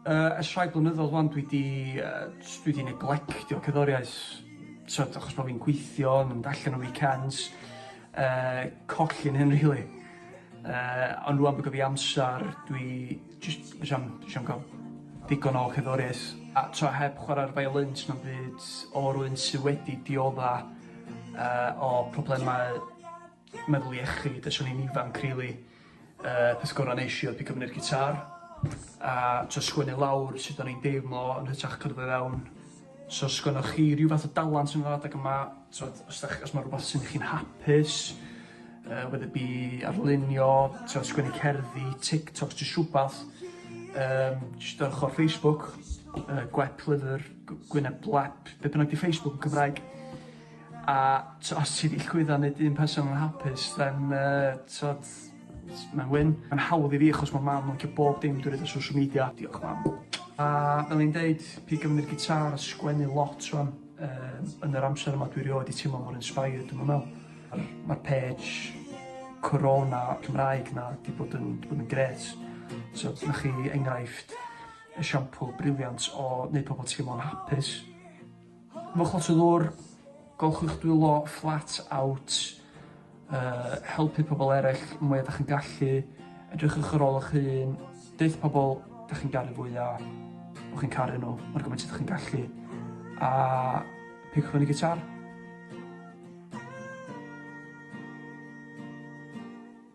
Yy ers rhai blynyddodd wan dwi 'di yy js dwi 'di neglectio cerddoriaeth t'od achos bo' fi'n gweithio yn mynd allan ar weekends yy colli'n hyn rili. Yy ond rŵan bo' 'da fi amsar dwi jyst js am js am ga'l digon o cerddoriaeth a t'o' heb chwara'r violin sna'm byd o rywun sy wedi diodda yy o problemau meddwl iechyd ers o'n i'n ifanc rili. Y peth gorau nes i oedd pigo fyny'r gitar a t'o' sgwennu lawr sut o'n i'n deimlo yn hytrach cyrdd o fewn. So os gynnoch chi ryw fath o dalent yn yr adeg yma t'od os 'dach os ma' rwbath sy'n chi'n hapus yy whether it be arlunio t'o' sgwennu cerddi, TikToks jyst rhwbath yym jyst ar ochor Facebook yy gwep lyfr gw- gwyneb glap be' bynnag 'di Facebook yn Cymraeg. A t'o' os ti 'di llwyddo neud un person yn hapus then yy t'od s- ma'n win. Ma'n hawdd i fi achos ma' mam yn licio bob dim dwi roid ar social media. Diolch mam. A fel o'n i'n deud pigo fyny'r gitâr a sgwennu lot rŵan yym yn yr amser yma dwi erioed 'di teimlo mor inspired dwi'm yn me'wl. Ma'r ma'r page Corona Cymraeg 'na 'di bod yn 'di bod yn grêt. So dyna chi enghraifft esiampl briliant o neud pobol teimlo'n hapus. Ymwch lot o ddŵr, golchwch eich dwylo flat out, uh, helpu pobl eraill mwy ydych chi'n gallu, edrychwch ar ôl eich hun, deith pobl ydych chi'n garu fwyaf, o chi'n caru nhw, mae'r gymaint ydych chi'n gallu, a peidiwch fyny gitar.